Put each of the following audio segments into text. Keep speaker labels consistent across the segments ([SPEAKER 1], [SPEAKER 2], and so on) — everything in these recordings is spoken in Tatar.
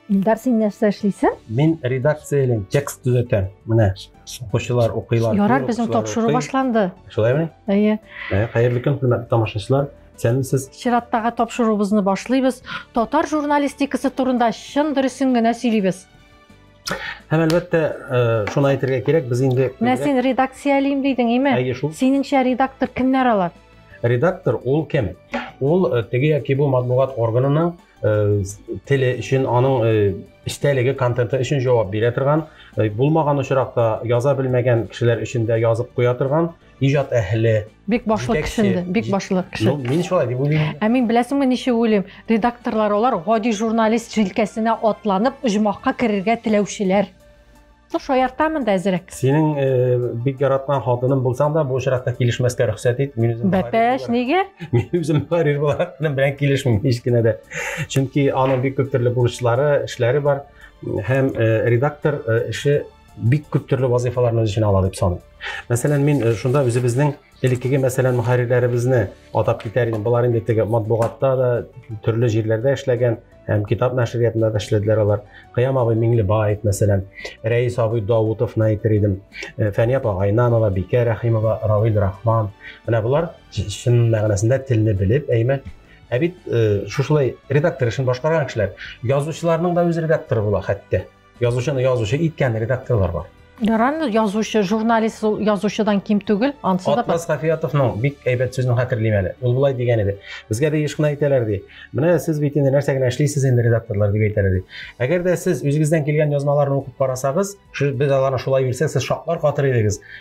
[SPEAKER 1] Илдар, син нәрсә эшлисең? Мин редакциялән
[SPEAKER 2] текст төзәтәм. Менә укучылар укыйлар. Ярар, безнең тапшыру
[SPEAKER 1] башланды. Шулаймы? Әйе.
[SPEAKER 2] Ә,
[SPEAKER 1] хәерле көн, хөрмәтле
[SPEAKER 2] тамашачылар. Сәлимсез. Чираттагы тапшыруыбызны
[SPEAKER 1] башлыйбыз. Татар журналистикасы турында чын дөресен генә сөйлибез.
[SPEAKER 2] Һәм әлбәттә, э, шуны әйтергә кирәк, без инде Менә син редакциялим
[SPEAKER 1] дидең, име? Әйе шул. Синеңчә
[SPEAKER 2] редактор
[SPEAKER 1] кемнәр алар? Редактор ул
[SPEAKER 2] кем? Ул э, теге яки бу матбугат органының э, теле өчен, аның истәлеге контенты өчен җавап бирә торган, булмаган очракта яза белмәгән кешеләр өчен дә язып куя торган иҗат әһеле, бик башлы кешенде,
[SPEAKER 1] бик башлы кеше. Ну, мин шулай дип уйлыйм.
[SPEAKER 2] Ә мин беләсеңме ничек
[SPEAKER 1] уйлыйм? Редакторлар алар гади журналист җилкәсенә атланып, оҗмахка керергә теләүчеләр. Ну, шаяртамын да әзрәк. Синең э, бик
[SPEAKER 2] яраткан хатының булсаң да, бу очракта килешмәскә рөхсәт ит. Мин үзем Бәпәш, нигә?
[SPEAKER 1] Мин үзем карир
[SPEAKER 2] буларак белән килешмим һич кенә дә. Чөнки аның бик күп төрле бурычлары, эшләре бар һәм э, редактор э, эше бик күп төрле вазыйфаларны үз эченә ала дип саныйм. Мәсәлән, мин э, шунда үзебезнең элеккеге мәсәлән мөхәррирләребезне атап китәр идем. Болар инде теге матбугатта да төрле җирләрдә эшләгән, һәм китап нәшриятында да эшләделәр алар. Кыям абый Миңлебаев, мәсәлән, Рәис абый Даутовны әйтер идем. Э, Фәния апа Гайнанова, Бикә Рәхимова, Равил Рахман. Менә болар чын мәгънәсендә телне белеп, әйме Ә бит э, шушылай редактор эшен башкарган кешеләр, язучыларның да үз редакторы була хәтта. Язучыны язучы иткән редакторлар бар. Яран язучы,
[SPEAKER 1] журналист язучыдан ким түгел, ансы да. Атмас Хафиятовның бик
[SPEAKER 2] әйбәт сүзен хәтерлим әле. Ул булай дигән иде. Безгә дә еш кына әйтәләр ди. Менә сез бит инде нәрсә генә эшлисез инде редакторлар дип әйтәләр ди. Әгәр дә сез үзегездән килгән язмаларны укып карасагыз, без аларны шулай бирсәк, сез шаклар катыр идегез.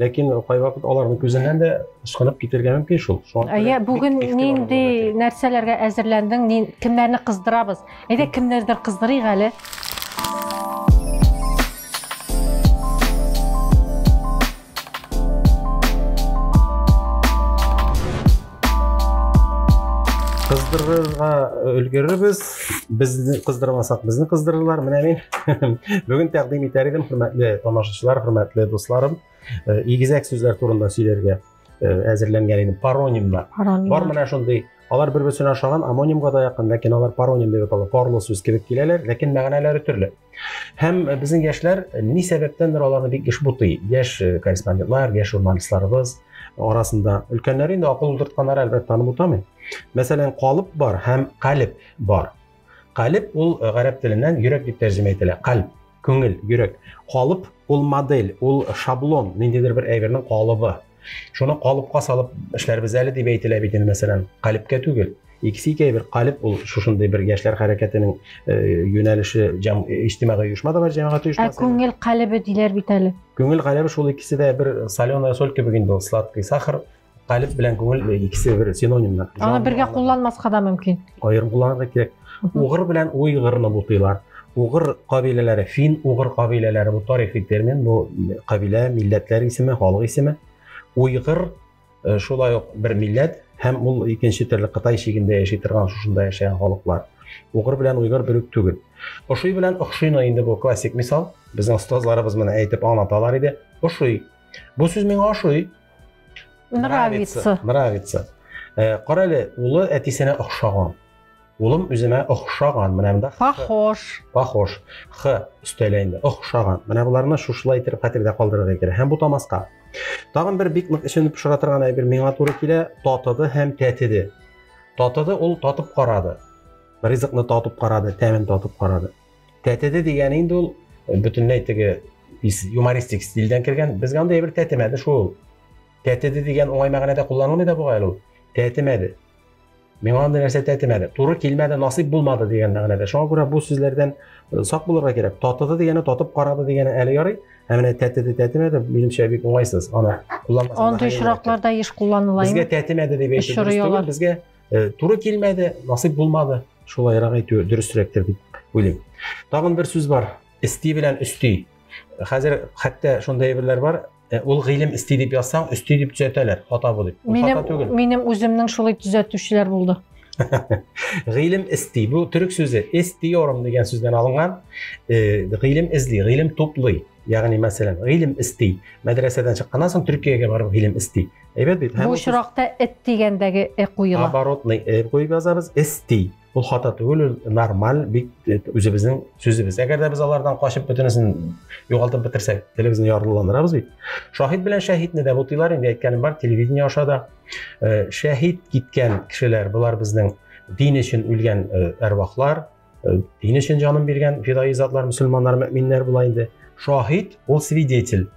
[SPEAKER 1] ләкин
[SPEAKER 2] кайвакыт аларның күзеннән дә ычкынып китергә мөмкин шул әйе бүген
[SPEAKER 1] нинди нәрсәләргә әзерләндең кемнәрне кыздырабыз әйдә кемнәрдер кыздырыйк әле
[SPEAKER 2] кыздырырга өлгерербез безне кыздырмасак безне кыздырырлар менә мин бүген тәкъдим итәр идем хөрмәтле тамашачылар хөрмәтле дусларым э, игезәк сүзләр турында сөйләргә э, әзерләнгән идем паронимнар бар менә шундый алар бер берсенә ошаган амонимга да якын ләкин алар пароним дип атала парлы сүз кебек киләләр ләкин мәгънәләре төрле Һәм э, безнең яшьләр э, ни сәбәптәндер аларны бик еш бутый. Яшь э, корреспондентлар, яшь журналистларыбыз арасында өлкәннәр инде акыл утыртканнар әлбәттә аны бутамый. Мәсәлән, калып бар һәм калиб бар. Калиб ул гарәп теленнән йөрәк дип тәрҗемә ителә. Калиб күңел, йөрәк. Калып ул модель, ул шаблон, ниндидер бер әйбернең калыбы. Шуны калыпка салып эшләрбез әле дип әйтелә бит инде, мәсәлән, калипкә түгел. Икесе икәй бер калип ул шушындый бер яшьләр хәрәкәтенең э, юнәлеше җәм иҗтимагый оешма да бар, җәмәгать оешмасы. Ә күңел калибе диләр
[SPEAKER 1] бит әле. Күңел калибе шул икесе
[SPEAKER 2] дә бер соленая соль кебек инде ул сладкий сахар калиб белән күңел икесе бер синонимнар. Аны бергә кулланмаска
[SPEAKER 1] да мөмкин. Аерым кулланырга кирәк.
[SPEAKER 2] Угыр белән уйгырны бутыйлар. Угыр кабиләләре, фин угыр кабиләләре бу тарихи термин, бу кабилә, милләтләр исеме, халык исеме. Уйгыр э, шулай ук бер милләт һәм ул икенче төрле Кытай чигендә яши торган шушында яшәгән халыклар. Угыр белән уйгыр бер үк түгел. Ошый белән охшыйны инде бу классик мисал. Безнең остазларыбыз моны әйтеп аңлаталар иде. Ошый. Бу сүз миңа ошый.
[SPEAKER 1] Нравится. Нравится.
[SPEAKER 2] Э, Кара әле, улы әтисенә охшаган. Улым үземә охшаган, менә монда похож. Похож. Х өстәлә инде. Охшаган. Менә боларны шушылай итеп хәтердә калдырырга кирәк. Һәм бу тамаска. Тагын бер бик нык эченеп пешерә торган әйбер миңа туры килә, татыды һәм тәтеде. Татыды ул татып карады. Ризыкны татып карады, тәмен татып карады. Тәтеде дигәне инде ул бөтенләй теге юмористик стильдән кергән. Безгә андый әйбер тәтемәде шул. Тәтеде дигән уңай мәгънәдә кулланылмый да бугай ул. Тәтемәде. Миңа андый нәрсә тәтемәде. Туры килмәде, насыйп булмады дигән мәгънәдә. Шуңа күрә бу сүзләрдән э, сак булырга кирәк. Татыды дигәне татып карады дигәне әле ярый. Ә менә тәтеде тәтемәде минемчә бик уңайсыз. Аны кулланмасам. Андый очракларда
[SPEAKER 1] еш кулланыла. Безгә тәтемәде дип әйтү
[SPEAKER 2] дөрес түгел. Безгә э, туры килмәде, насыйп булмады. Шулайрак әйтү дөресрәктер дип уйлыйм. Тагын бер сүз бар. Исти белән өсти. Хәзер хәтта шундый әйберләр бар. Ә ул гыйлем исти дип язсаң, өсти дип төзәтәләр,
[SPEAKER 1] хата
[SPEAKER 2] бу дип.
[SPEAKER 1] Ул Минем,
[SPEAKER 2] хата түгел. минем үземнең шулай төзәтүчеләр
[SPEAKER 1] булды.
[SPEAKER 2] Гыйлем исти. Бу төрек сүзе истиорум дигән сүздән алынган. Э, Гыйлем эзли, гыйлем туплый. Ягъни, мәсәлән, гыйлем исти. Мәдрәсәдән чыкканнан соң Төркиягә барып гыйлем исти. Әйбәт бит. Һәм Бу ул очракта эт
[SPEAKER 1] дигәндәге э куела. Оборотный э куеп
[SPEAKER 2] язабыз, исти. Ул хата түгел, ул нормаль, бик э, үзебезнең сүзебез. Әгәр дә без алардан качып бөтенесен югалтып бетерсәк, телебезне ярлыландырабыз бит. Шаһид белән шәһидне дә бутыйлар, инде әйткәнем бар, телевидение аша да. Э, шәһид киткән кешеләр, булар безнең дин өчен үлгән э, әрвахлар, дин өчен җанын биргән фидаи затлар, мөселманнар, мөминнәр була инде. Шаһид ул свидетель.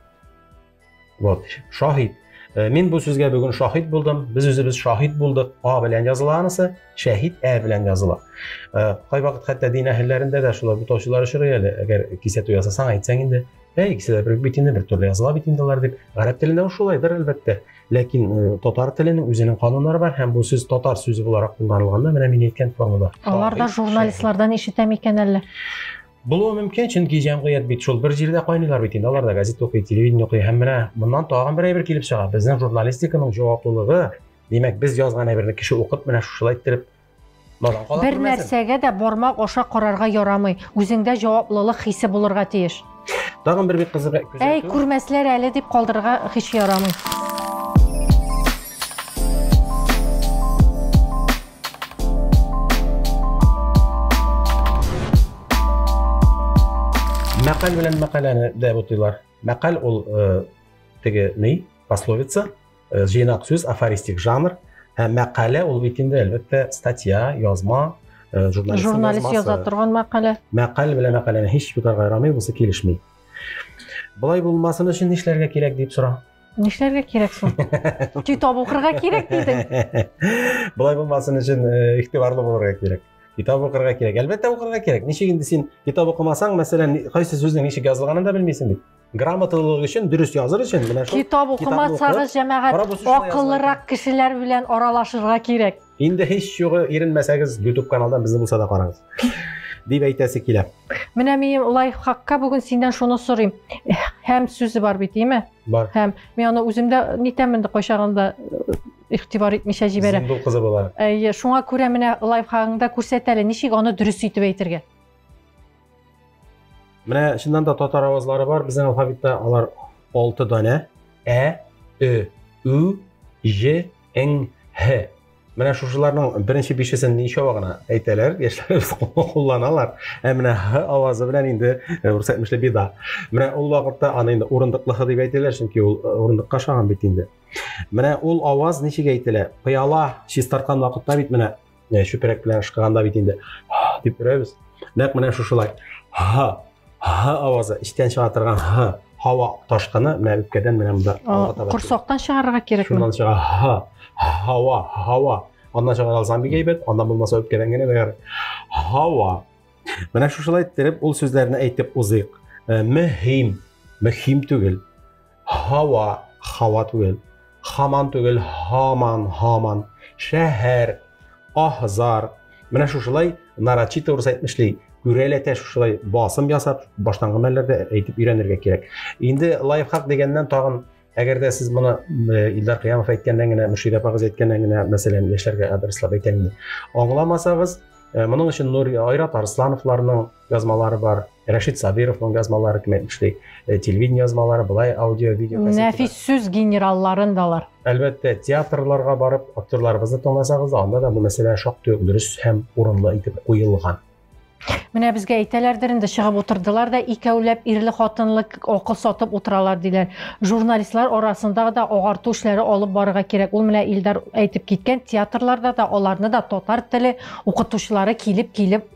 [SPEAKER 2] Вот, шаһит. Э, мин бу сүзгә бүген шаһит булдым. Без үзебез шаһит булдык. А белән языла анысы, шәһид ә белән языла. Э, кай вакыт хәтта дин әһелләрендә дә шулай бутаучылар очрый әле. Әгәр кисәтү ясасаң, әйтсәң инде, әй, кисәтә бер бит инде, бер төрле языла бит инде дип. Гарәп телендә шулайдыр, әлбәттә. Ләкин э, татар теленең үзенең кануннары бар һәм бу сүз татар сүзе буларак кулланылганда, менә мин әйткән формада. Алар да журналистлардан
[SPEAKER 1] ишетәм икән әллә? Булуы
[SPEAKER 2] мөмкин, чөнки җәмгыять бит шул бер җирдә кайныйлар бит инде. Алар да газет укый, телевидение укый. Һәм менә моннан тагын бер әйбер килеп чыга. Безнең журналистиканың җаваплылыгы, димәк, без язган әйберне кеше укып, менә шушылай иттереп надан кала Бер нәрсәгә дә
[SPEAKER 1] бармак аша карарга ярамый. Үзеңдә җаваплылык хисе булырга тиеш. Тагын бер бик
[SPEAKER 2] кызык күзәтү. Әй, күрмәсләр әле
[SPEAKER 1] дип калдырырга һич ярамый.
[SPEAKER 2] Мәкаль белән мәкаләне дә бутыйлар. Мәкаль ул теге ни, пословица, җыйнак сүз, афористик жанр. Һәм мәкалә ул бит инде әлбәттә статья, язма, журналист, журналист
[SPEAKER 1] яза торган мәкалә. Мәкаль белән мәкаләне
[SPEAKER 2] һич бутарга ярамый, бусы килешми. Болай булмасын өчен нишләргә кирәк дип сора. Нишләргә кирәк
[SPEAKER 1] соң? Китап укырга кирәк дидең. Болай булмасын
[SPEAKER 2] өчен э, игътибарлы булырга кирәк. Китап укырга кирәк. Әлбәттә укырга кирәк. Ничек инде син китап укымасаң, мәсәлән, кайсы сүзнең ничек язылганын да белмисең бит. Грамоталылык өчен, дөрес языр өчен менә шул китап укымасагыз,
[SPEAKER 1] җәмәгать, акыллырак кешеләр белән аралашырга кирәк. Инде һич югы
[SPEAKER 2] иренмәсәгез, YouTube каналдан безне булса да карагыз. Дип әйтәсе килә. Менә мин
[SPEAKER 1] лайфхакка бүген синнән шуны сорыйм. Һәм сүзе бар бит, име? Бар. Һәм мин
[SPEAKER 2] аны үземдә
[SPEAKER 1] нитәмен дә кайчагында э, игътибар итмичә җибәрә. Зиндул кызы була. Әйе,
[SPEAKER 2] шуңа күрә менә
[SPEAKER 1] лайфхагыңда күрсәт әле, ничек аны дөрес итеп әйтергә.
[SPEAKER 2] Менә чыннан да татар авазлары бар, безнең алфавитта алар 6 данә. Ә, Ö, Ü, Ж, Н, Һ. Менә шушыларның беренче бишесен ничава гына әйтәләр, яшьләребез кулланалар. Ә менә һ авазы белән инде э, рус әйтмешли бида. Менә ул вакытта аны инде урындыклы х дип әйтәләр, чөнки ул э, урындыкка ошаган бит инде. Менә ул аваз ничек әйтелә? Пыяла чистарткан вакытта бит менә Менә чүпрәк белән ышкыганда бит инде дип өрәбез. Нәкъ менә шушылай. Ха, ха авазы, эчтән чыга торган ха, һава ташкыны менә үпкәдән менә монда алга таба. Корсактан чыгарырга кирәкме?
[SPEAKER 1] Шуннан чыга ха,
[SPEAKER 2] һава, һава. Аннан чыгара алсаң бик әйбәт, аннан булмаса үпкәдән генә бәгәр. Һава. Менә шушылай иттереп ул сүзләрне әйтеп узыйк. Мөһим, мөһим түгел. һава, һава түгел, хаман түгел, һаман, һаман, шәһәр, аһзар. Менә шушылай нарочито урыс әйтмешли, күрәләтә шушылай басым ясап, баштангы мәлләрдә әйтеп өйрәнергә кирәк. Инде лайфхак дигәннән тагын Әгәр дә сез моны Илдар Кыямов әйткәннән генә, Мөршидә апагыз әйткәннән генә, мәсәлән, яшьләргә адреслап әйтәм инде. Аңламасагыз, моның өчен Нур Айрат Арслановларның язмалары бар. Рәшит Сабировның язмалары кем әйтмешли, э, телевидение язмалары, былай аудио, видео. Нәфис сүз генералларын
[SPEAKER 1] далар. Әлбәттә, театрларга
[SPEAKER 2] барып, актерларыбызны тыңласагыз, анда да бу мәсьәлә шактый ук дөрес һәм урынлы итеп куелган. Менә
[SPEAKER 1] безгә әйтәләрдер инде чыгып утырдылар да икәүләп ирле хатынлы акыл сатып утыралар диләр. Журналистлар арасында да агарту эшләре алып барырга кирәк. Ул менә Илдар әйтеп киткән театрларда да аларны да татар теле укытучылары килеп-килеп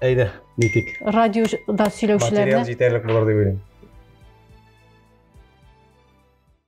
[SPEAKER 1] Әйдә,
[SPEAKER 2] нитик. Радиода сөйләүчеләрне. Материал
[SPEAKER 1] җитәрлек
[SPEAKER 2] булыр дип уйлыйм.